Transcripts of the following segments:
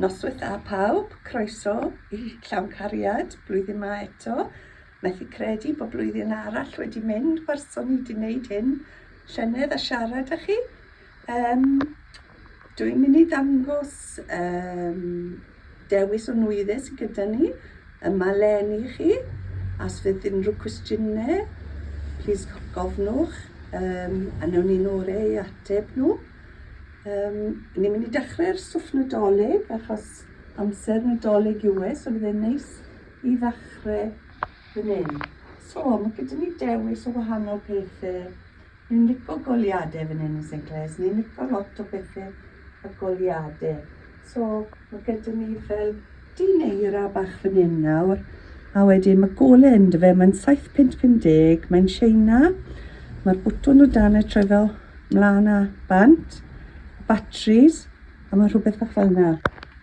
Noswaith dda pawb, croeso i Llawn Cariad blwyddyn 'ma eto. Methu credu bod blwyddyn arall wedi mynd wers o'n i 'di wneud hyn llynedd a siarad â chi. Yym, dw i'n mynd i ddangos yym dewis o nwyddau sydd gyda ni yma len i chi. Os fydd unrhyw cwestiynau, plis gofnwch um, a newn ni'n orau ei ateb nhw. Um, ni'n mynd i dechrau'r stwff nadolig achos amser nadolig yw e, so bydd e'n neis i ddechrau fan hyn. So, mae gyda ni dewis o wahanol pethau Ni'n lico goliade fan hyn yn Saint Clair's, ni'n lico lot o bethe a goliade. So, mae gyda ni fel dyn eira bach fan hyn nawr, a wedyn mae gole ynddo fe, mae'n 750, mae'n Sheina, mae'r bwtwn o dan y troi fel mlaen a bant, batteries, a mae rhywbeth bach fel yna.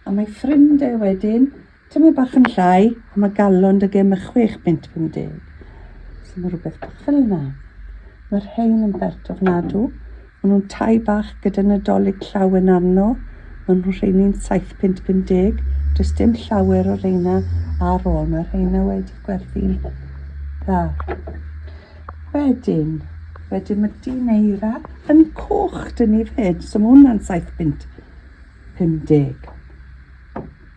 A mae ffrind e wedyn, Tymed bach yn llai, a mae galon dy gem y 6 punt 50. So mae rhywbeth bach fel yna. Mae'r rhain yn bert ofnadw. Mae nhw'n tai bach gyda nadolig llawen arno. Mae nhw'n rheini'n 7 punt 50. Does dim llawer o reina ar ôl. Mae rheina wedi gwerthu'n dda. Wedyn, wedyn mae dyn eira yn coch dyn ni fed. So mae hwnna'n 7 punt 50.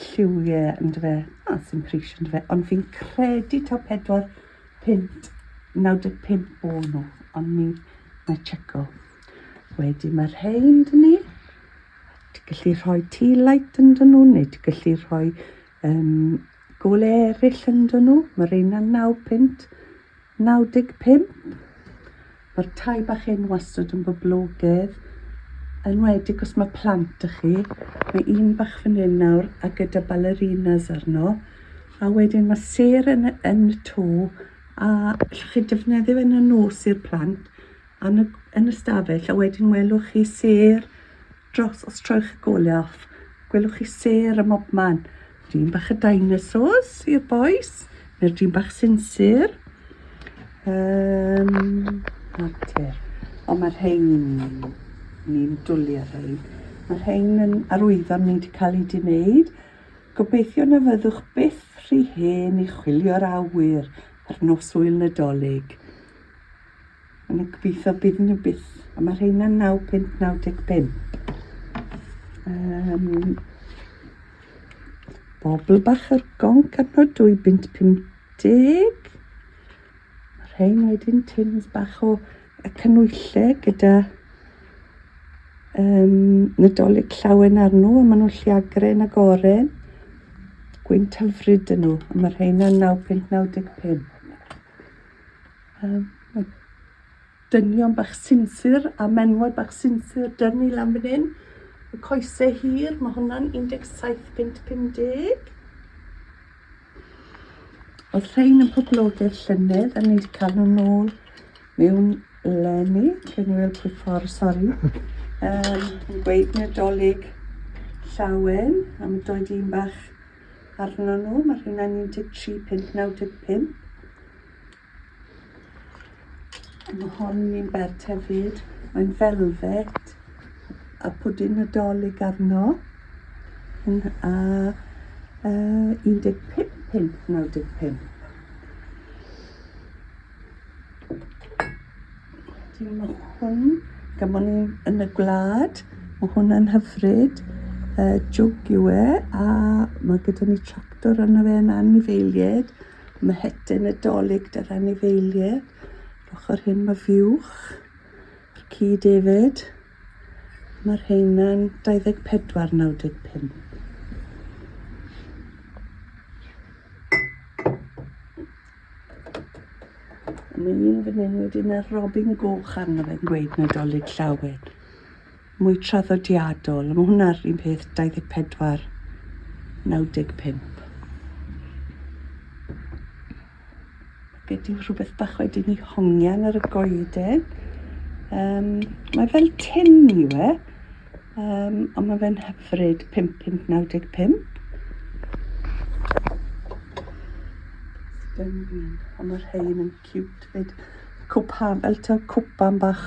lliwie ynddo fe. A, ah, sy'n pris ynddo fe. Ond fi'n credu taw 4 pint 95 o nhw. Ond mi na checo. Wedi mae rhain dyn ni. Ti'n gallu rhoi tea light ynddo nhw neu ti'n gallu rhoi um, gole eraill ynddo nhw. Mae rhain yn 9 pint. 95. Mae'r tai bach hyn wastad yn boblogedd, yn wedig os mae plant â chi. Mae un bach fan hyn nawr a gyda ballerinas arno. A wedyn mae ser yn, yn y to a allwch chi defnyddio fe yn y nos i'r plant yn y, yn y stafell a wedyn welwch chi ser Dros os trowch y golaf, gwelwch chi sêr ym mobman. Dyn bach y dinosaurs i'r boys, neu'r dyn bach sinsir. Um, natur. Ond mae'r rhain, ni'n dwlu ar rhain. Mae'r rhain yn arwyddo'n ni wedi cael ei wneud. Gobeithio na fyddwch byth rhy hen i chwilio'r awyr ar nos wyl Nadolig. Ond y gobeithio bydd nhw byth. A mae rheina 9 pint 95. Um, bobl bach ar gonc arno 2 bint 50. Mae rhein wedyn tins bach o y cynwylle gyda um, nadolig llawen arno a maen nhw'n lliagren ag oren. Gwynt hyfryd yn nhw, a mae rheina 9.95. Yym, mae dynion bach sinsir a menywod bach sinsir dyn ni lan fan hyn. Y coese hir, mae hwnna'n 17 pint 50. Oedd rhain yn poblogaidd llynedd a ni wedi cael nhw nôl mewn lenni. Lle ni weld pwy ffordd, sori. Um, yn gweud Nadolig llawen a mae doed un bach arno nhw. Mae rhywun yn 13 pint 95. Mae hon yn bert hefyd. Mae'n velvet a pwdin Nadolig arno. Yn, a uh, 15.95. Wedyn mae hwn, gymon ni yn y gwlad, mae hwnna'n hyfryd. Uh, jwg yw e, a mae gyda ni tractor yna fe yn anifeiliaid. Mhletyn y Dolig, dy'r anifeiliaid. Yr ochr hyn mae fuwch, yr ci David. Mae'r heina'n 24, 95. Mae un fan hyn wedyn ar robin goch arno fe'n gweud Nadolig llawen. mwy traddodiadol, a mae hwnna'r un peth 24, 95. Gyda rhywbeth bach wedyn i hongian ar y goeden. Um, mae fel tin i we, um, ond mae fe'n hyfryd 5595. Stunning, ond mae'r rhain yn cute fyd. Cwpa, fel ta cwpan bach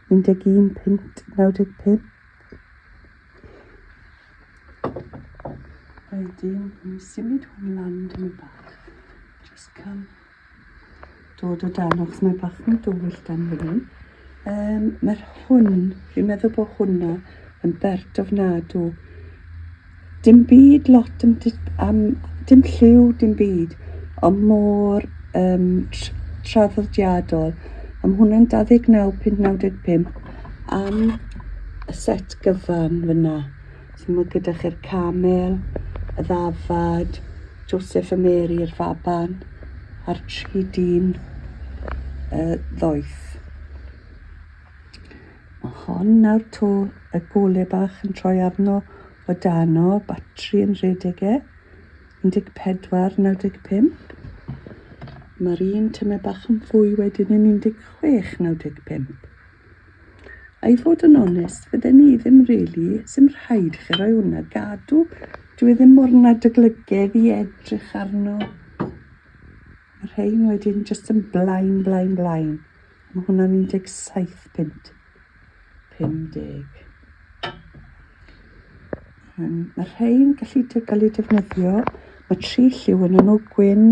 11.95 A wedyn, ni'n symud hwn lan dyma bach. Just cael dod o dan, achos mae bach yn dywyll dan fan hyn. Um, Mae'r hwn, fi'n meddwl bod hwnna yn bert ofnadw. Dim byd lot am, am dim lliw, dim byd, ond mor um, traddodiadol. Am hwnna'n 129.95 am y set gyfan fyna. So mae gyda chi'r camel, y ddafad, Joseph a Mary, yr faban, a'r tri dyn y ddoeth. A hon nawr 'to, y gole bach yn troi arno o dan o, batri yn rhedeg e, 14, 95. Mae'r un tyme bach yn fwy wedyn yn 16, 95. A i fod yn onest, fydden ni ddim really, sy'n rhaid i chi roi hwnna gadw. Dwi e ddim mor nad y glygedd i edrych arno. Mae'r rhain wedyn jyst yn blaen, blaen, blaen. Mae hwnna'n 17 punt. 50. Um, mae rhain gallu dy gael eu defnyddio. Mae tri lliw yn nhw, gwyn,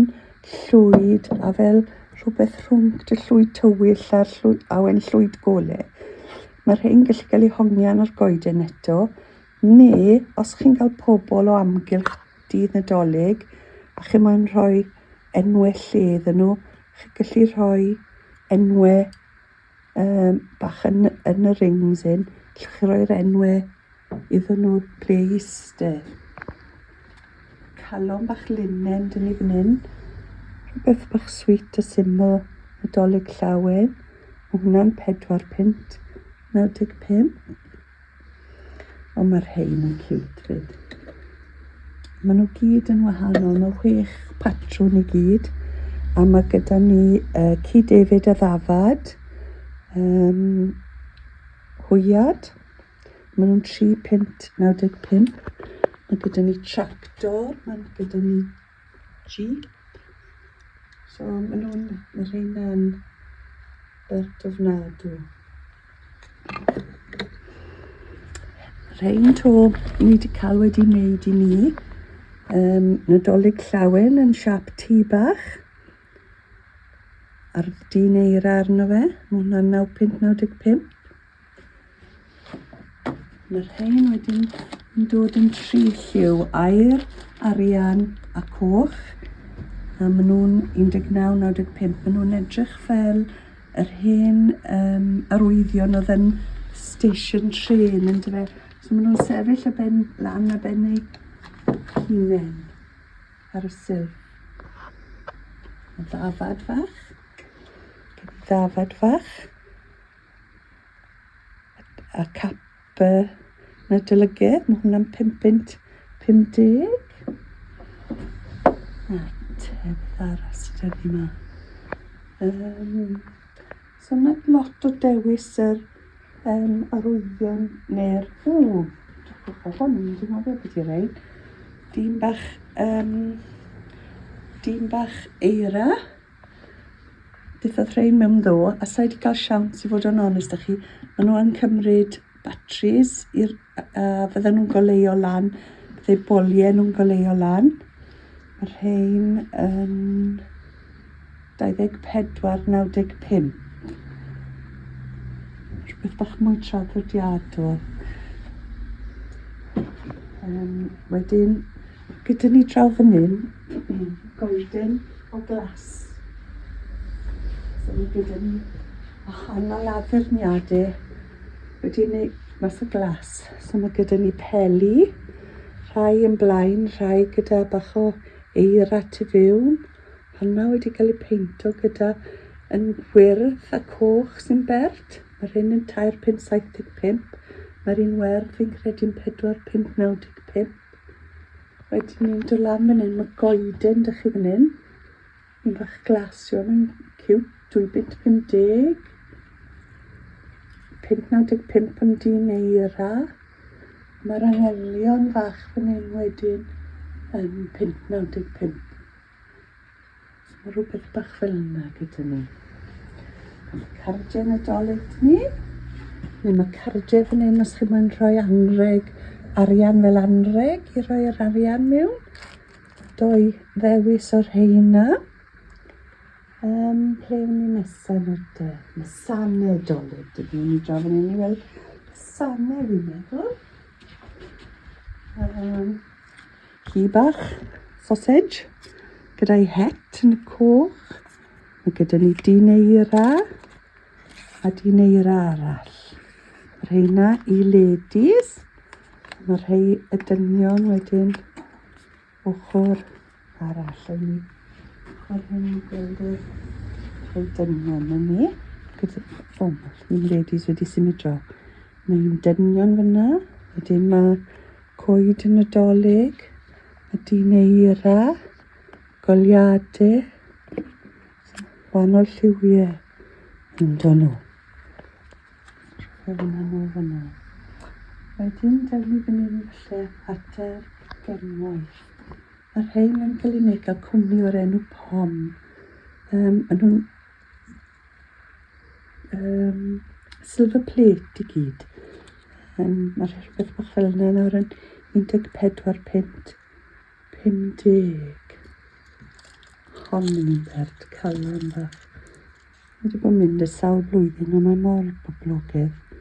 llwyd, a fel rhywbeth rhwng dy llwyd tywyll a'r llwyd, awen llwyd gole. Mae rhain gallu cael eu hongian ar goeden eto, Neu os chi'n cael pobl o amgylch Dydd Nadolig a chi moyn rhoi enwau lle iddyn nhw, chi'n gallu rhoi enwau um, bach yn, yn y rings hyn, allwch chi roi'r enwau iddyn nhw ble i eistedd. Calon bach linen dyn ni fan hyn, rhywbeth bach sweet a syml, Nadolig llawen, mae hwnna'n 4 pint, 95. Ond mae'r rhain yn cute fyd. Maen nhw gyd yn wahanol, mae chwech patrwn i gyd. A mae gyda ni uh, Ci David a Ddafad, um, Hwyad, maen nhw'n 3 pint 95. Mae gyda ni tractor, mae gyda ni Jeep. So maen nhw'n y rheina'n bert ofnadw. Rhein to ni wedi cael wedi wneud i ni. Um, Nadolig llawen yn siap tu bach. A'r dyn eira arno fe. Mae hwnna'n 9.95. Mae'r rhain wedyn yn dod yn tri lliw air, arian a coch. A maen nhw'n 1995. Maen nhw'n edrych fel yr hen um, arwyddion oedd yn station train yn dyfa. So maen nhw'n sefyll y ben lan a ben ei hunain ar y syl. Mae ddafad fach. Ddafad fach. a cap y nadolygydd, mae hwnna'n 550. A tedd arall sydd wedi yma. Um, so mae lot o dewis yr um, arwyddion neu'r... Ww, dwi'n hwn, dwi'n meddwl beth ydy'r ein. Dyn bach, um, dyn bach eira. Beth oedd rhain mewn ddo? A sa i wedi cael siawns i fod yn onest â chi. Maen nhw yn cymryd batris i'r... a fydden nhw'n goleuo lan. Byddai boliau nhw'n goleuo lan. Mae rhain yn 24.95. Rhywbeth bach mwy traddodiadol. Um, wedyn Gyda ni draw fan hyn, goeden o glas. So mae gyda ni wahanol addurniadau wedi wneud mas o glas. So mae gyda ni peli, rhai yn blaen, rhai gyda bach o eira tu fewn. Honna wedi cael ei peinto gyda yn wyrdd a coch sy'n bert. Mae'r hyn yn 3,575. Mae'r un werdd fi'n credu'n 4,595. Wedyn ni'n dod lan fan hyn, mae goeden dych chi fan hyn. Un bach glas iawn yn cywt, 2 bit 50. 595 yn dyn eira. Mae'r anghelion fach fan hyn wedyn yn 595. Mae rhywbeth bach fel yna gyda ni. Mae cardiau Nadolig dyn ni. Neu mae cardiau fan hyn os chi moyn rhoi anreg, arian fel anreg i roi yr arian mewn. Doi ddewis o'r rheina. Um, ple wn i nesa nawr de? Mae sane dolyg dyn ni. Ni draw fan hyn i weld sane fi'n meddwl. Um, Ci bach, sausage, gyda'i het yn y coch. Mae gyda ni dyn eira a dyn eira arall. Mae rheina i ladies. Mae rhai y dynion wedyn ochr arall yn ni. Mae'r hyn i gweld yr rhai dynion yn ni. Gyda, o, mae ladies wedi symud draw. Mae'n dynion fyna. Wedyn mae Coed y Nadolig, y dyn eira, goliadau, wahanol lliwiau yn dod nhw. Rhywun yn ôl fyna. Wedyn, dawn ni fyny ni falle at yr genwaith. Mae'r rhain yn cael eu wneud gael cwmni o'r enw POM. Um, maen nhw'n um, silver plate i gyd. Um, Mae'r rhywbeth bach fel yna nawr yn 14 pint 50. Hon yn un bert calon bach. Mae wedi bod yn mynd y sawl blwyddyn a mae mor boblogaidd.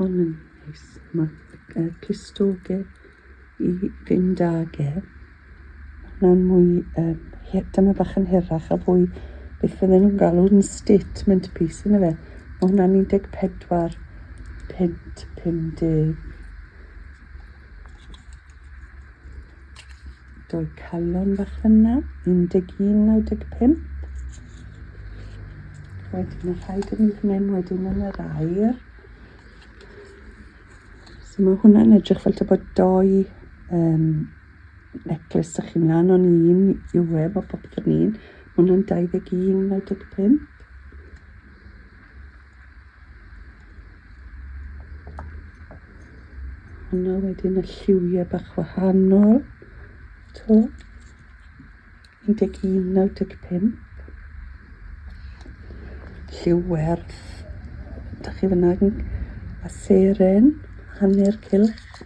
Hon yn neis. Mae clustoge i fynd ag e. Mae'n mwy, um, dyma bach yn hirach a fwy beth fydden nhw'n galw'n statement piece yn y fe. Mae hwnna'n 14 pint 50. Dwy calon fach fyna, 11, 95. Wedyn y rhaid yn mynd hyn, wedyn yn yr air. So mae hwnna'n edrych fel ta bod doi um, necklace ych chi'n lan o'n un yw e, bod popeth yn un. Mae hwnna'n 21, 95. Yna wedyn y lliwiau bach wahanol. To. 11.95. Lliw werth. Da chi fyna a seren, hanner cilch.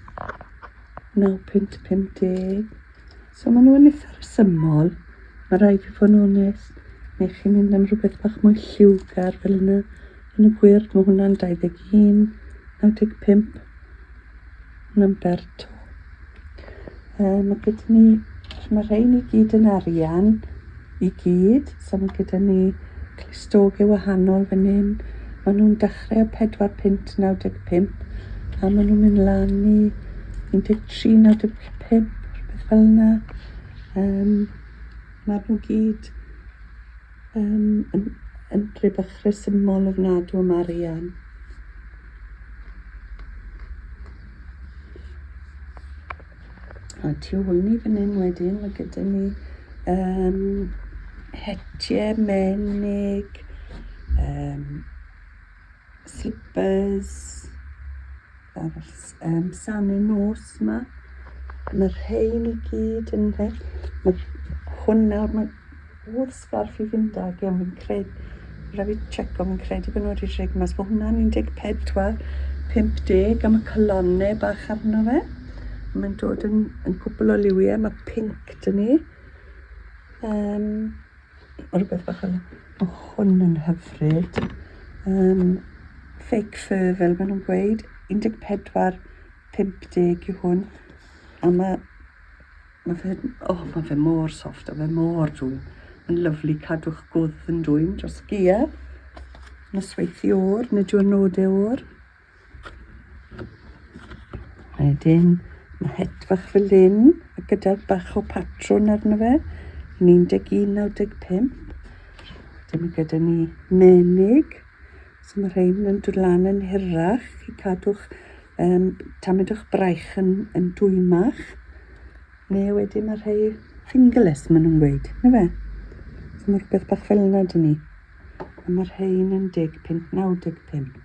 9.50. So maen nhw'n eitha rhesymol, mae rhaid fi fod yn onest, neu chi'n mynd am rhywbeth bach mwy lliwgar fel yna. Yn y gwir, mae hwnna'n 21, 95, hwnna'n berto. Uh, mae gyda ni, mae rhain i gyd yn arian, i gyd, so mae gyda ni clistogau wahanol fan hyn. Maen nhw'n dechrau o 4 pint 95, a maen nhw'n mynd lan i 13, 95, pump, rhywbeth fel yna. Um, Mae nhw gyd um, yn, yn rhywbeth rhesymol ofnadw am arian. A tu ôl ni fan hyn wedyn, mae gyda ni um, hetiau menig, um, Slippers. Um, sanu nos yma. Mae rhain i gyd yn rhaid. Mae hwn nawr, mae wrth sgarff i fynd ag iawn fi'n credu. Rhaid fi check o'n fi'n credu bod nhw wedi rhaid mas. Mae hwnna'n 14, 50 am y colonne bach arno fe. Mae'n dod yn, yn cwbl o liwiau. Mae pink dyn ni. Um, Mae rhywbeth bach yn... O, hwn yn hyfryd. Um, fake fur, fel maen nhw'n gweud. 14.50 yw hwn. A mae... Mae fe... O, oh, mae fe mor soft, a fe mor dwyn. Mae'n lyflu cadw'ch gwdd yn dwyn dros gia. Nosweithi o'r, nid yw'r nodau o'r. Wedyn, mae het fach fel hyn, a gyda bach o patrwn arno fe, yn 11.95. Wedyn mae gyda ni menig, so mae rhain yn dod lan yn hirach i cadw'ch um, tamedwch braich yn, yn dwymach. Neu wedyn mae rhai fingerless, maen nhw'n gweud, na fe? So mae rhywbeth bach fel yna dyn ni. A mae rhain yn 15, 95.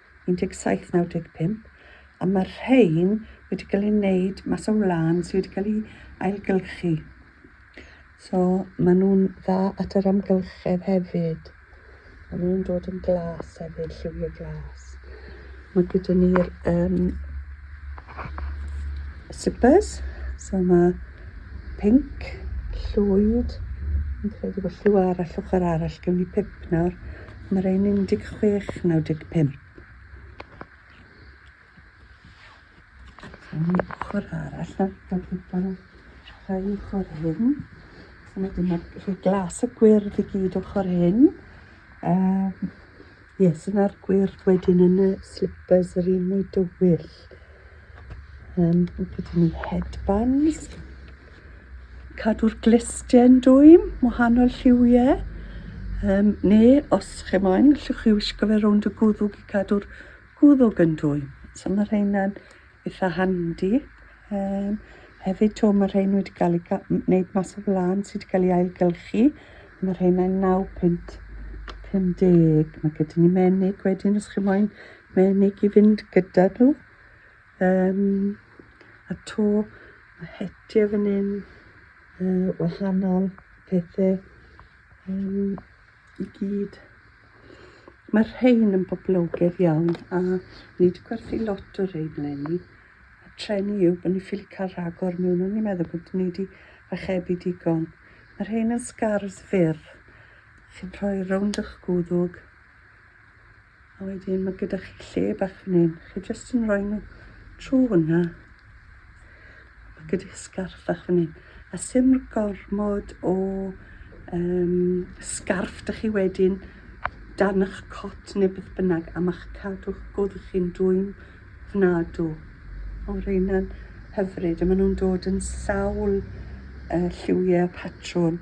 1795, a mae'r rhain wedi cael ei wneud mas o wlân sydd wedi cael ei ailgylchu. So maen nhw'n dda at yr amgylchedd hefyd. Maen nhw'n dod yn glas hefyd, lliwiau glas. Mae gyda ni'r um, slippers, so mae pink, llwyd, yn credu bod lliw arall ochr arall, gen i pip nawr, Mae rhain 16, 95. Yn y ochr arall, na, dod i pan rhai ochr hyn. So mae dyma rhai glas y gwyrdd i gyd ochr hyn. Um, yes, yna'r gwyrdd wedyn yn y slippers yr un mwy dywyll. Um, gyda ni headbands. Cadw'r glisten dwym, wahanol lliwiau. Um, neu, os chi moyn, allwch chi wisgo fe rownd y gwddwg i cadw'r gwddwg yn dwym. So mae rheina'n eitha handi. Um, hefyd to, mae rhein wedi cael ei wneud mas o flan sydd wedi cael ei ailgylchu. Mae rheina'n 9 pint 50. Mae gyda ni menig wedyn, os chi moyn Mae unig i fynd gyda nhw. Um, a to, mae hetiau fan hyn, uh, wahanol pethau um, i gyd. Mae'r rhain yn boblogedd iawn a ni wedi gwerthu lot o rhain lenni. A trenu yw bod ni ffili cael rhagor mewn o'n i'n meddwl bod ni wedi fachebu digon. Mae'r rhain yn sgars fyr. Chi'n rhoi rownd o'ch gwddwg A wedyn mae gyda chi lle bach fan hyn. Chi jyst yn rhoi nhw trwy hwnna. Mae gyda chi sgarff bach fan hyn. A sy'n gormod o um, sgarff da chi wedyn dan eich cot neu beth bynnag a mae'ch cadw'ch gwddw chi'n dwy'n fnadw. O, reina'n hyfryd a maen nhw'n dod yn sawl uh, lliwiau patrwn.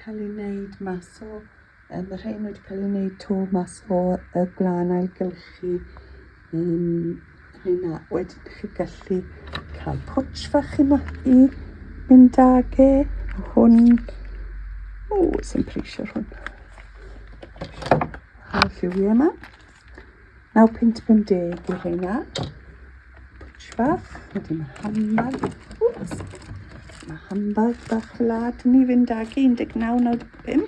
cael ei wneud mas o yym y rhein wedi cael ei wneud 'to mas o y gwlân ailgylchu yym rheina wedyn dych chi'n gallu cael pwtsh fach i ma- i mynd ag e hwn o sy'n preisio'r hwn a lliwie yma Naw pint pum deg i'r reina. Pwtsh bach, wedyn mae handbag. Wps! Mae handbag bach lad ni fynd ag 19.95.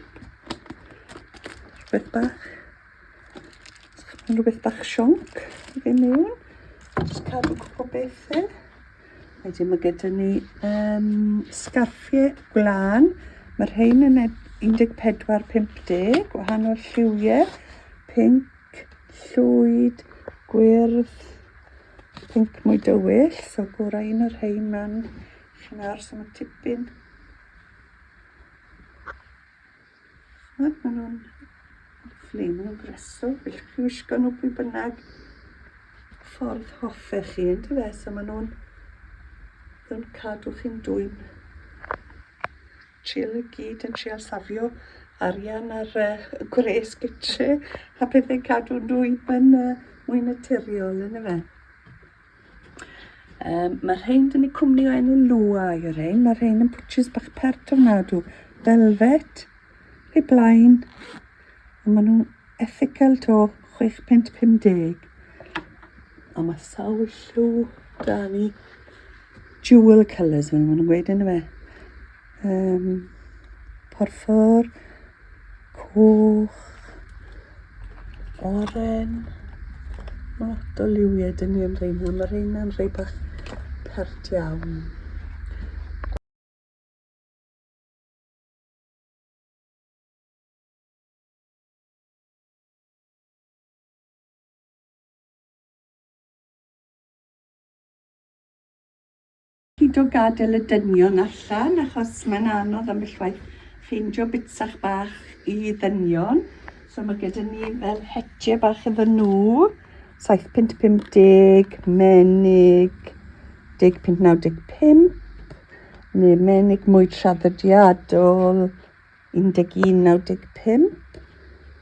Rhywbeth bach. Mae'n rhywbeth bach sionc i fi mewn. Just cadw gwybod beth e. Wedyn mae gyda ni um, sgarffiau gwlan. Mae rhain yn 14-50, wahanol lliwiau, pink, llwyd, gwyrdd, pink mwy dywyll, so gorau un o'r rhain man, chi'n nawr, so mae tipyn Chimod, maen nhw'n lyflu, maen nhw'n breswyl, felly chi wisgo nhw pwy bynnag ffordd hoffech chi, yn dyfe? So maen nhw'n yn cadw chi'n dwy'n chill y gyd yn trial safio arian ar y uh, gwres gytre a pethau'n cadw'n dwy'n yn uh, mwy naturiol, yn dyfe? Um, mae rhain dyn ni cwmni o enw Lua i rhain. Mae rhain yn pwtshys bach pert ofnadw. Velvet, pe blaen. A maen nhw'n ethical to 6.50. A mae sawl lliw da ni. Jewel colours, maen nhw'n gweud yn y fe. Yym, porffor, coch, oren. Mae lot o liwiau dyn ni yn reina. Mae reina'n rhai bach pert iawn. Pido gadel y dynion allan achos mae'n anodd ambell waith ffeindio bitsach bach i ddynion. So mae gyda ni fel hetje bach iddyn nhw, 7.50, menig, 10.95, neu menig mwy traddodiadol, 11.95.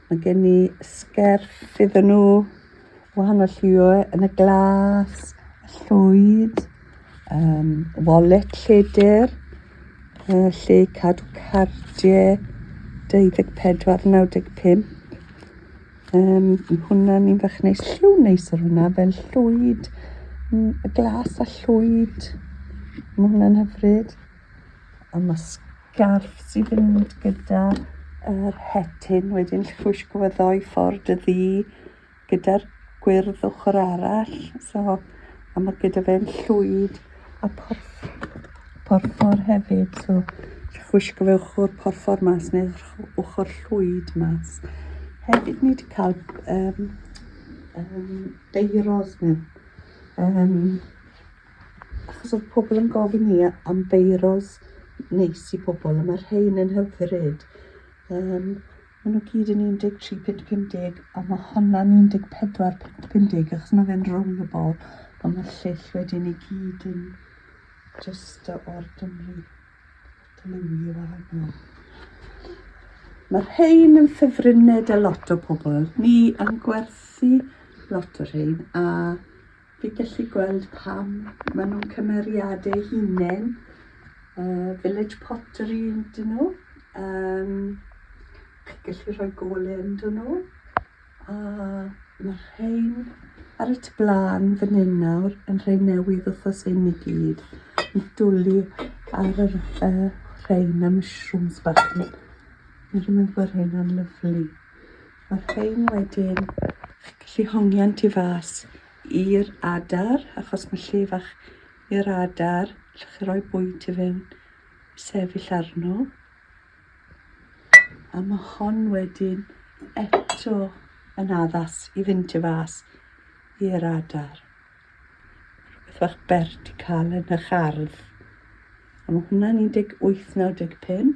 Mae gen i sgerff iddyn nhw, wahanol lliwiau yn y glas, y llwyd, um, wallet lledr, uh, lle cadw cardiau, 24.95. Um, mae hwnna'n un fach neis, lliw neis ar hwnna, fel llwyd, mm, y glas a llwyd. Mae hwnna'n hyfryd. A mae Garth sy'n fynd gyda yr hetyn wedyn llwysgo fo ddoi ffordd y ddu gyda'r gwyrdd ochr arall. So, a mae gyda fe'n llwyd a porff, porffor hefyd. So, llwysgo fe ochr porffor mas neu ochr llwyd mas. Hefyd ni wedi cael um, um, beiros mewn. Um, achos oedd pobl yn gofyn ni am beiros neis i pobl a mae rhein yn hyfryd. Um, maen nhw gyd yn 13.50 a mae honna'n 14.50 achos mae fe'n rollable a mae'r lleill wedyn i gyd yn just o'r dymru dylunio wahanol. Mae'r rhein yn ffefrynnau da lot o pobl. Ni yn gwerthu lot o rhein a Fi'n gallu gweld pam maen nhw'n cymeriad eu hunain, uh, village pottery ydyn nhw. Um, chi'n gallu rhoi gole ydyn nhw. A mae rhain ar y blaen fan hyn nawr yn rhain newydd wrthos hyn i gyd. Yn dwlu ar yr uh, rhain y mushrooms bach. Mae'n rhywun bod hyn yn lyflu. Ac ein wedyn, chi'n gallu hongian tu fas i'r adar, achos mae lle fach i'r adar, allwch chi roi bwyd i fewn, sefyll arno. A mae hon wedyn eto yn addas i fynd tu fas i'r adar. Rhywbeth fach bert i cael yn eich ardd. A mae hwnna'n 1895.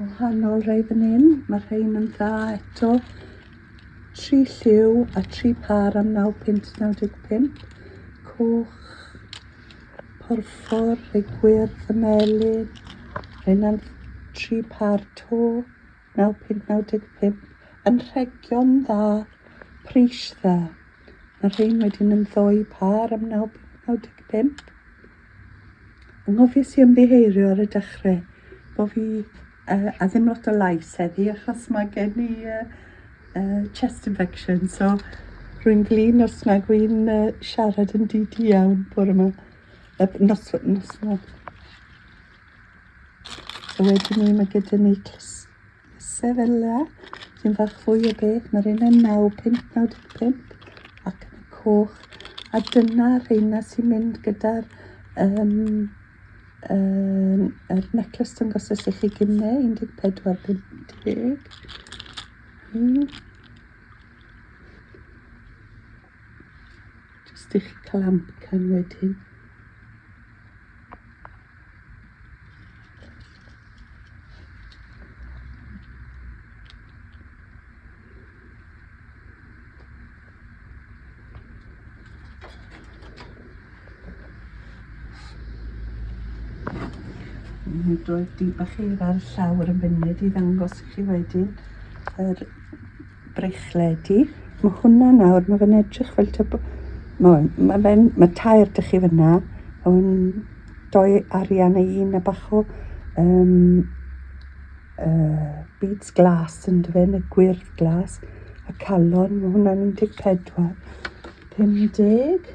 Wahanol rei fan hyn, mae'r rhein yn dda eto. Tri lliw a tri par am 9 pint 95. Coch, porffor, rhai gwyrdd, y melin. Rheina'n tri par to, 9 pint 95. Yn rhegion dda, pris dda. Mae rhein wedi'n ymddoi par am 9 pint 95. Anghofies i ymddiheurio ar y dechrau bod fi uh, a ddim lot o lais heddi achos mae gen i uh, uh, chest infection so rwy'n flin os nag wy'n uh, siarad yn dyd iawn bore yma. Uh, nos, nos yma. So wedyn ni mae gyda ni clust Sefylla, sy'n fach fwy o beth, mae'r un yn 9595 ac yn y coch, a dyna rheina sy'n mynd gyda'r um, um, er necklace dyngos ys i chi gynne, 1450. Mm. Jyst i chi cael amcan wedyn. Mae'n dod i bach eira ar y llawr yn funud i ddangos i chi wedyn yr Breichledu. Mae hwnna nawr, mae fe'n edrych fel tyb... Mae, mae fe'n, mae tair dych chi fyna, hwn doi arian a un a bach o um, uh, beads glas yn dy fe, neu gwyrdd glas, a calon, mae hwnna'n 14, 50.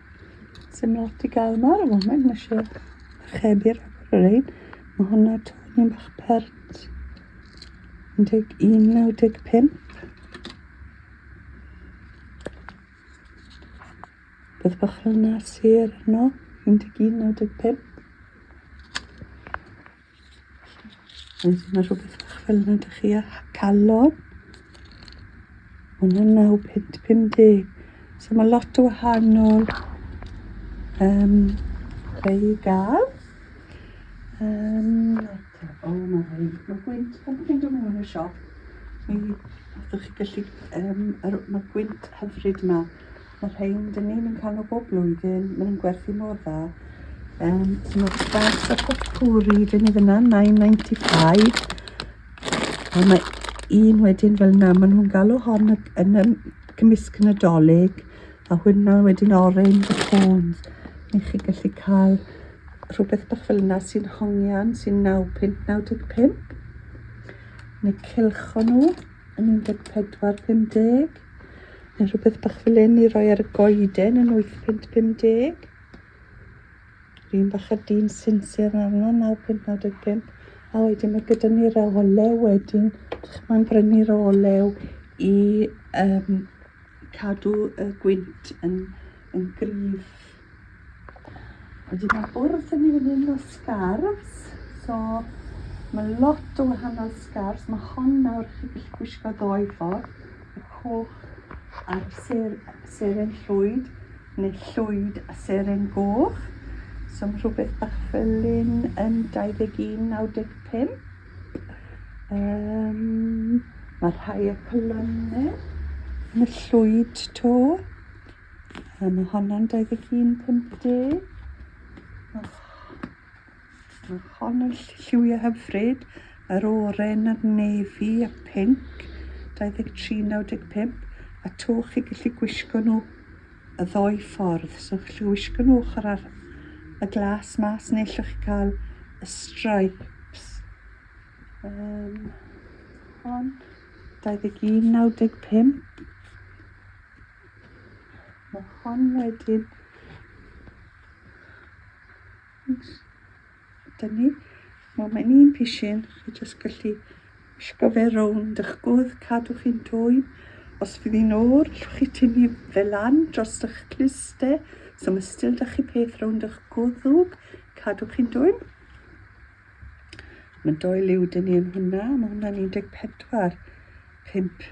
Sy'n lot i gael yma ar y foment, mae eisiau archebu'r agor yr ein. Mae hwnna toni bach pert. 11.95. Bydd bach yna sir yno, 11.95. Oes yna rhywbeth bach fel yna dych chi a calon? Hwna'n 9.50. So mae lot o wahanol um, fe i gael. Um, o, mae rhai. Mae gwynt, pan ydych chi'n dod mewn i'r siop, mi ydych chi gallu, um, mae gwynt hyfryd yma. Mae'r rhein dyn ni'n yn cael nhw bob blwyddyn, maen nhw'n gwerthu mor dda. Um, so mae'r sbars a popcwri dyn ni fyna, 9.95. A mae un wedyn fel yna, maen nhw'n galw hon yn y cymysg yn y dolyg, a hwnna wedyn orange a cones. Ni chi gallu cael rhywbeth bach fel yna sy'n hongian, sy'n 9.95. Neu cilcho nhw. yn 14.50 neu rhywbeth bach fel hyn i roi ar y goeden yn 8.50 un bach a dyn sinsir arno 9.95 a wedyn mae gyda ni'r olew wedyn mae'n brynu'r olew i um, cadw y gwynt yn, yn gryf A dwi mewn bwrdd yn mynd un o scarfs, so mae lot o wahanol scarfs, mae hon nawr chi gallu gwisgo ddoe ffordd, y coch a'r ser, seren llwyd, neu llwyd a seren goch. So mae rhywbeth bach fel un yn 21.95. Um, mae rhai y colonne yn y llwyd to. A mae honna'n 21.50. Oh, mae hon yn lliwiau hyfryd. Yr oren a'r nefi a pink. 23.95. A to chi gallu gwisgo nhw y ddoi ffordd. So chi'n gallu gwisgo nhw ochr ar y glas mas neu allwch chi cael y stripes. Um, hon. 21.95. Mae hon wedyn Dyna ni. Nawr mae'n un pishin, chi jyst gallu wisgo fe rownd eich gwdd, cadw chi'n dwy. Os fydd hi'n o'r, llwch chi tynnu fe lan dros eich cluste, so mae still da chi peth rownd eich gwddwg, cadw chi'n dwy. Mae doi liw dyn ni yn hwnna, mae hwnna'n 14, 5.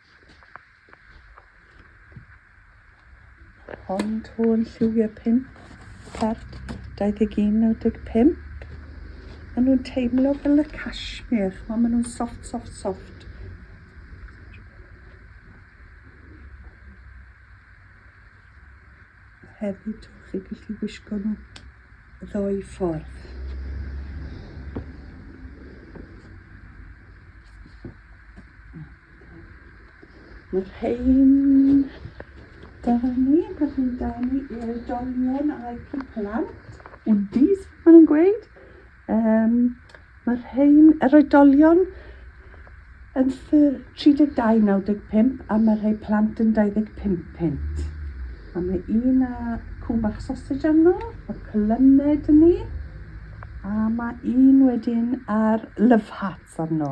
Ond hwn yn lliwiau pin, part 21.95. Maen nhw'n teimlo fel y cashmere, chymod, maen nhw'n soft, soft, soft. Hefyd, chi'n gallu wisgo nhw ddo'i ffordd. Mae'r rhain da ni, mae'r rhain da ni i'r dolion a'r ciplan. Undies, maen nhw'n gweud. Um, mae'r rhain, yr oedolion yn 32.95 a mae'r rhai plant yn 25 pint. A mae un a cwn bach sausage arno, mae clymed yn ni, a mae un wedyn ar love hearts arno.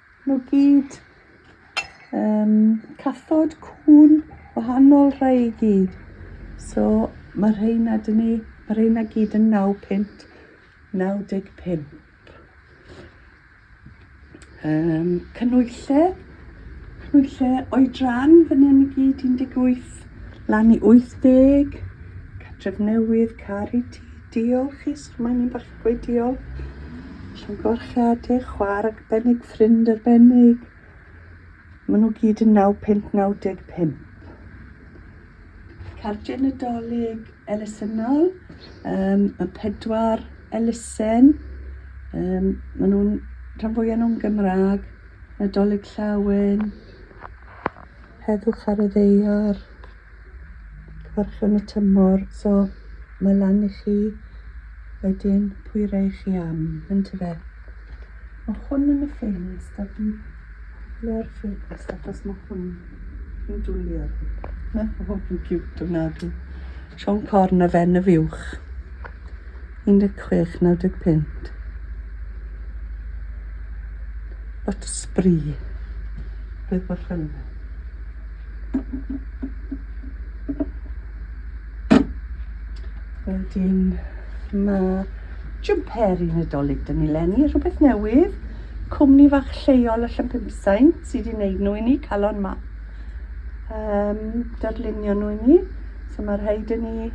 Nhw gyd. Um, cathod, cwn, wahanol rhai i gyd. So mae rheina dyn ni, mae rheina gyd yn 9 pint, 95. Um, cynwyllau, cynwyllau oedran fan hyn i gyd 18 lan i 80. Catref newydd, car i ti, Diolch i Sgwennu Bach Gwydion, Llongyfarchiadau Chwaer Arbennig, Ffrind Arbennig. Maen nhw gyd yn 9595. Cardiau Nadolig elusennol, um, y pedwar elusen, um, maen nhw'n rhan fwyaf nhw'n Gymraeg, Nadolig Llawen, Heddwch ar y Ddeiar, Cyfarchwn y tymor, so mae lan i chi wedyn pwy rei chi am, yn tyfe? Mae hwn yn y ffenest a dwi le'r ffenest achos mae hwn yn dwlu ar fi. Mae hwn yn cute o nadw. Siôn Corn a Fen y Fiwch. 16.95. What a spree. Bydd fy ffynnu. Wedyn mae jwmper i Nadolig dyn ni lenni, rhywbeth newydd. Cwmni fach lleol allan Llanpumsain sydd wedi wneud nhw i ni, calon ma. Um, darlunio nhw i ni. So mae'r rhai dyn ni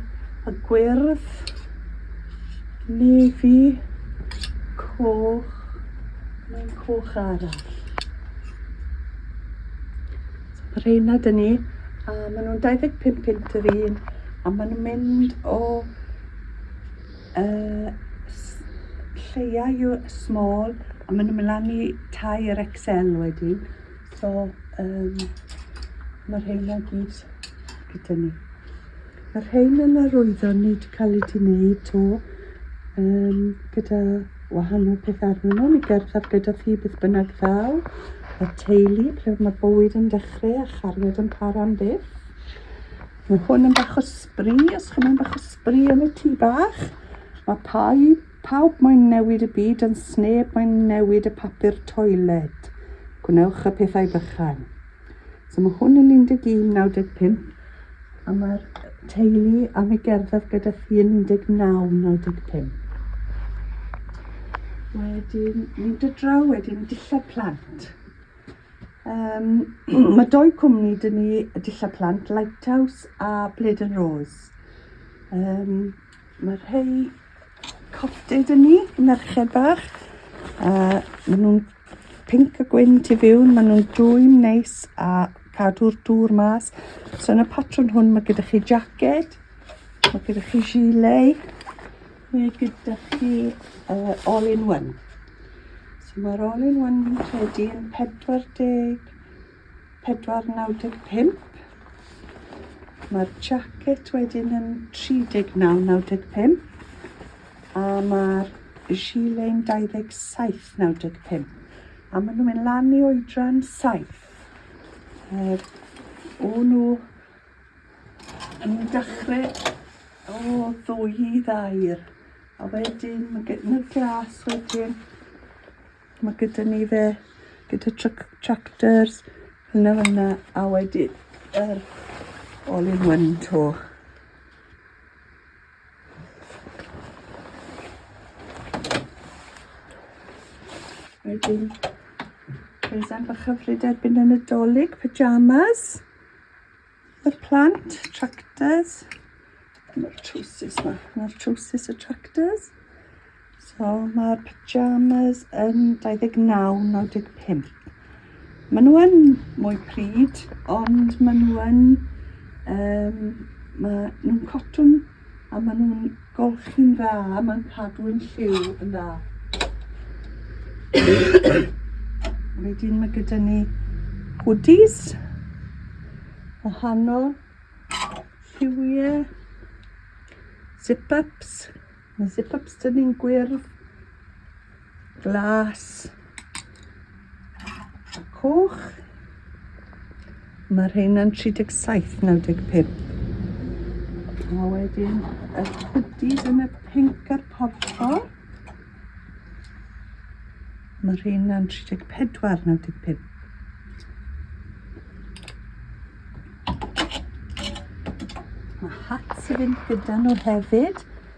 y gwyrdd, nefi, coch, mae'n coch arall. Mae rheina dyn ni, a maen nhw'n 25 pint yr un, a maen nhw'n mynd o uh, lleia yw small, a maen nhw'n mynd lan i tai yr XL wedi. So, um, mae rheina gyd gyda ni. Mae'r rhain yn arwyddo nid cael eu gwneud to um, gyda wahanol peth arnyn nhw. Mi gerddaf gyda thi beth bynnag ddaw. Y teulu, ble mae bywyd yn dechrau a chariad yn para am byth. Mae hwn yn bach o sbri, os chi'n mynd bach o sbri yn y tŷ bach. Mae pau, pawb mae'n newid y byd yn sneb mae'n newid y papur toiled. Gwnewch y pethau bychan. So mae hwn yn 11.95 a mae'r teulu am ei gerdded gyda chi yn 19.95. Wedyn, mynd y draw wedyn, dillad plant. Um, mae doi cwmni dyn ni y dillad plant, Lighthouse a Blade and Rose. Um, mae rhai Cofte dyn ni, merched bach. A maen nhw'n pink a gwyn tu fiwn, maen nhw'n dwym neis a cadw'r dŵr mas. So yn y patrwn hwn mae gyda chi jacket, mae gyda chi gilet, mae gyda chi uh, all in one. So mae'r all in one fi'n credu yn 40 495. Mae'r jacket wedyn yn 39.95 a mae'r gile'n 27.95 a maen nhw'n mynd lan i oedran 7. Er, o nhw yn dechrau o ddwy i ddair a wedyn mae gen- y glas wedyn Mae gyda ni fe, gyda truc, tractors, hynna hynna, a wedi yr er, all in one to. Wedyn, Rwy'n bach hyfryd erbyn y Nadolig, pyjamas. Y plant, tractors. Dyna'r trowsus yma. Dyna'r trowsus y tractors. So mae'r pyjamas yn 29.95. Maen nhw yn mwy pryd, ond maen nhw yn... Um, maen nhw'n cotwn A maen nhw'n golchi'n dda, mae'n cadw'n lliw yn dda. Wedyn mae gyda ni hoodies, wahanol, lliwiau, zip-ups, mae zip-ups dyn ni'n gwyrdd, Glas. A coch. Mae rheina'n 37, 95. A wedyn y hoodies yn y pink a'r porffor. Mae rheina'n 34, 95. Mae hats i fynd gyda nhw hefyd.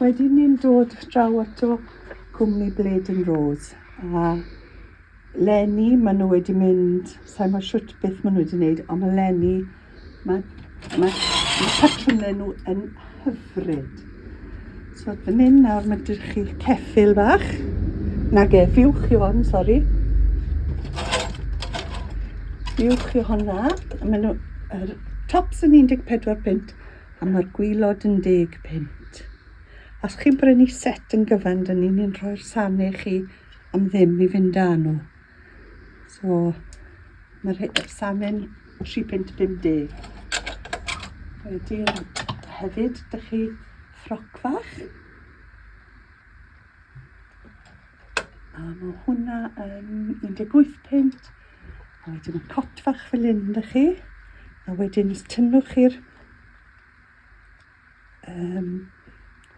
Wedyn ni'n dod draw ato cwmni Blade and Rose a Lenny, maen nhw wedi mynd, sa'n gwybod shwt beth maen nhw wedi wneud, ond mae Lenny, mae, mae, mae patrymau nhw yn hyfryd. So, dyn mynd nawr, mae dych chi ceffil bach. Na ge, fiwch i hon, sori. Fiwch i honna. Mae nhw, er, tops yn 14 pint, A mae'r gwylod yn deg punt. Os chi'n brynu set yn gyfan, dyn ni'n un rhoi'r sane i chi am ddim i fynd â nhw. So, mae'r sane'n 3 punt 50. Wedyn, hefyd, dych chi ffroc fach. A mae hwnna yn 18 pint. A wedyn y cot fach fel hyn, da chi. A wedyn os tynnwch chi'r um,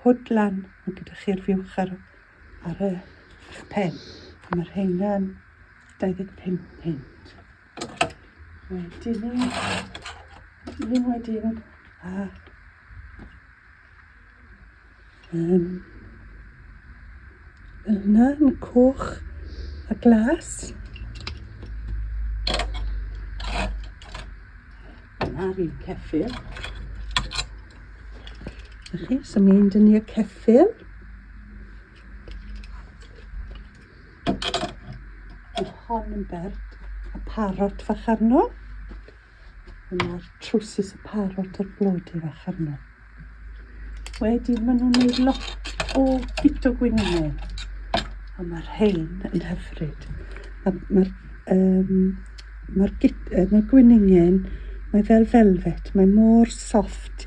hwd lan, mae gyda chi'r fiwch ar, ar y pen. A mae rheina'n 25 pint. Wedyn ni, wedyn ni, wedyn. A, um, fel yna, yn coch a glas. Yna rhyw ceffil. Ych chi, so mynd yn i'r ceffil. Mae hon yn bert y parot fach arno. Dyma'r trwsus y parot a'r blodi fach arno. Wedyn maen nhw'n gwneud lot o bito gwynenau. A mae'r rhain yn hyfryd. Mae'r um, mae ma gwningen, mae fel velvet, mae mor soft.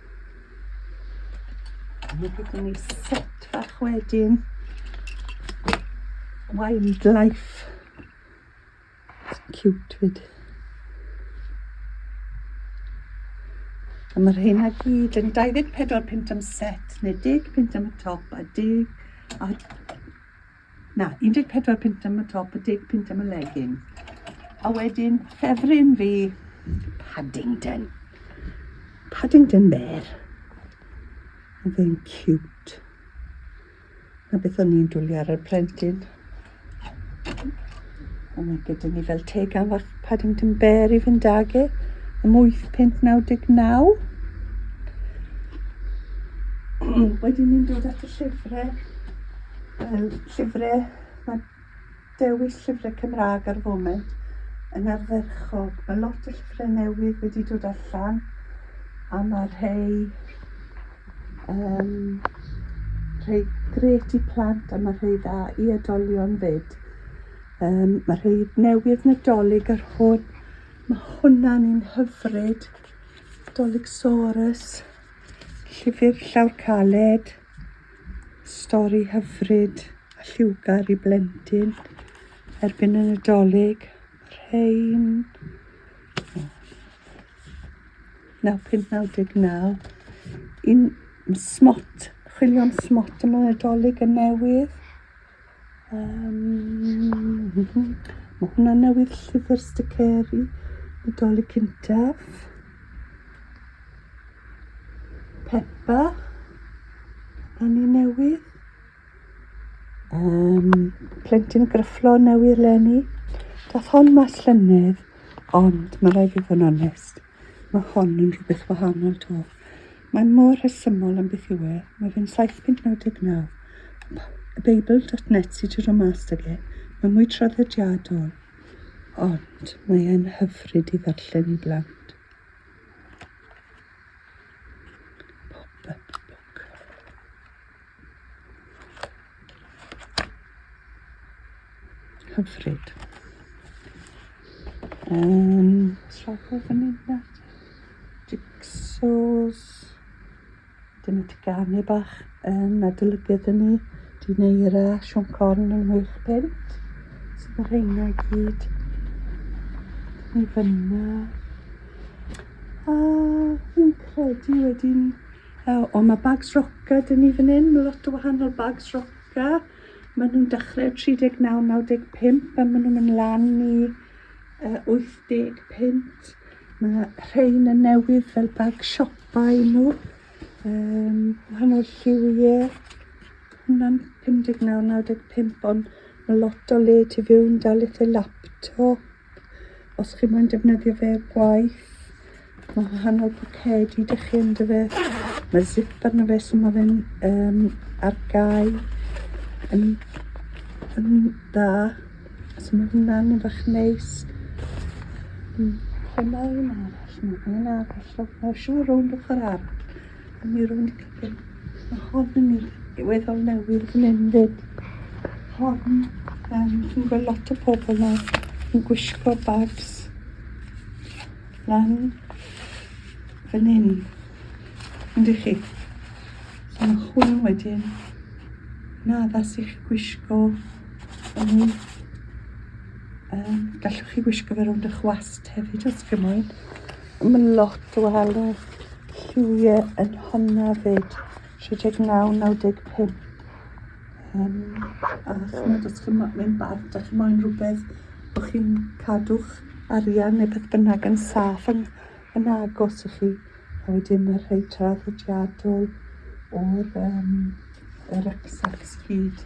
Mae gyda ni set fach wedyn. Wildlife. It's cute fyd. A mae rheina gyd yn 24 pint am set, neu 10 pint am y top, a 10 a Na, 14 punt am y top a 10 punt am y legging. A wedyn, ffefryn fi, Paddington. Paddington Bear. Oedd e'n cute. Na beth o'n i'n dwlu ar y plentyn. A mae gyda ni fel teg afach Paddington Bear i fynd ag e am 8.99. Wedyn ni'n dod at y llyfrau, um, llyfrau, mae dewis llyfrau Cymraeg ar y foment yn ardderchog. Mae lot o llyfrau newydd wedi dod allan a mae rhai Yym, rhai gret i plant a mae rhai dda i edolion fyd. Yym, mae rhai newydd Nadolig ar hwn. Mae hwnna'n un hyfryd. Doligsaurus, llyfr llawr caled, stori hyfryd a lliwgar i blentyn erbyn y Nadolig. Rhain... 9599 un smot, chwilio am smot yma Nadolig yn newydd. Um, mae hwnna newydd llyfr sticeri Nadolig cyntaf. Pepa, a ni newydd. Um, plentyn gryfflo newydd lenni. Dath hon mas llynedd, ond mae rhaid i fod yn onest. Mae hon yn rhywbeth wahanol 'to. Mae mor rhesymol am beth yw e. Mae fe'n 799. Y Beibl.net sydd wedi rhoi mas ag e. Mae mwy traddodiadol. Ond mae e'n hyfryd i ddarllen i blant. Pop-up book. Hyfryd. Um, Srafu fyny na. Jigsaws. Dyna ti ganu bach yn adolygydd yn ni. Di neira Siôn Corn yn wych pent. Sydd yr heina i gyd. Ni fyna. A fi'n credu wedyn O, o mae bags roca dyn ni fan hyn, mae lot o wahanol bags roca. Mae nhw'n dechrau 39, 95 a mae nhw'n mynd lan i uh, 80 pint. Mae rhain yn newydd fel bag siopa i nhw. Um, wahanol lliwiau. Hwna'n 59, 95 ond mae lot o le tu fewn dal eitha laptop. Os chi moyn defnyddio fe i'r gwaith, mae wahanol pocedi dych chi ynddo fe. Mae zip arno fe, so mae fe'n um, ar gau yn, yn dda. So mae hwnna'n yn fach neis. Lle mae un arall? Mae un arall. Mae'n siŵr rownd ochr arall. Mi ro'n i gyfyn, mae hon yn mynd diweddol newydd fan hyn fyd. Hon, um, chi'n gweld lot o pobl yma yn gwisgo bags lan fan hyn. Yndych chi? So mae hwn wedyn yn addas i chi gwisgo yn ei... Um, gallwch chi gwisgo fe rownd eich wast hefyd os gymoedd. Mae lot o alw lliwie yn honna 'fyd, 39, 95. Yym, a chimod, os chi'n mo- mynd bant, dach chi moyn rhywbeth bo' chi'n cadw'ch arian neu beth bynnag yn saff yn yn agos i chi. A wedyn y rhei traddodiadol o'r yym y rycksacks 'fyd.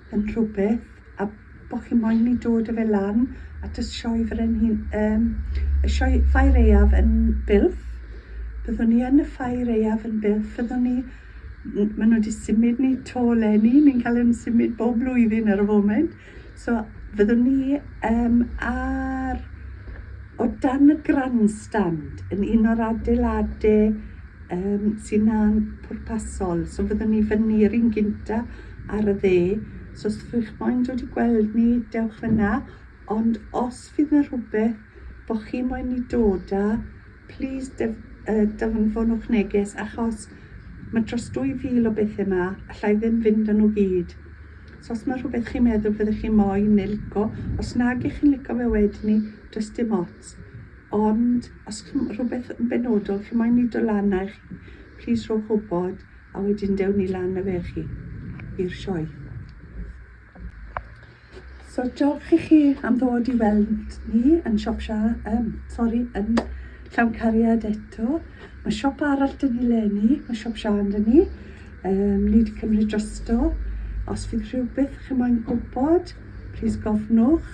yn rhywbeth a bod chi moyn i dod a fe lan at y sioe frenhin, um, y sioe ffair eiaf yn Bilf. Byddwn ni yn y ffair eiaf yn Bilf. Byddwn ni, maen nhw wedi symud ni to lenni, ni'n cael yn symud bob blwyddyn ar y foment. So fyddwn ni um, ar o dan y grandstand yn un o'r adeiladau um, sy'n na'n pwrpasol. So fyddwn ni fyny yr un gynta ar y dde, os oes chi'ch moyn dod i gweld ni, dewch yna, ond os fydd 'na rhywbeth bo' chi moyn ni dod â, plîs def- yy danfonwch neges, achos ma' dros 2,000 o bethe 'ma, alla i ddim fynd â nhw gyd. So os ma' rhywbeth chi'n meddwl fyddech chi moyn neu lico, os nag 'ych chi'n lico fe wedyn 'ny, does dim ots. Ond os chi'n rhywbeth yn benodol chi'n moyn ni do lan â i chi, plîs rhowch wybod. A wedyn dewn ni lan a fe chi i'r sioe. So diolch i chi am ddod i weld ni yn siop sha, um, sori, yn llawn cariad eto. Mae siop arall dyn ni lenni, mae siop sha yn dyn ni. Um, ni wedi cymryd drosto. Os fydd rhywbeth chi moyn gwybod, plis gofnwch.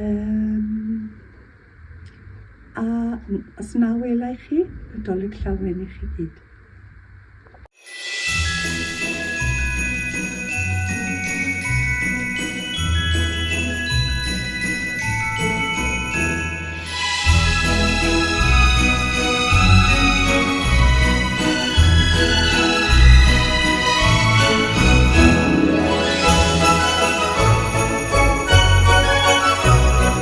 Um, A os na welai chi, Nadolig Llawen i chi gyd.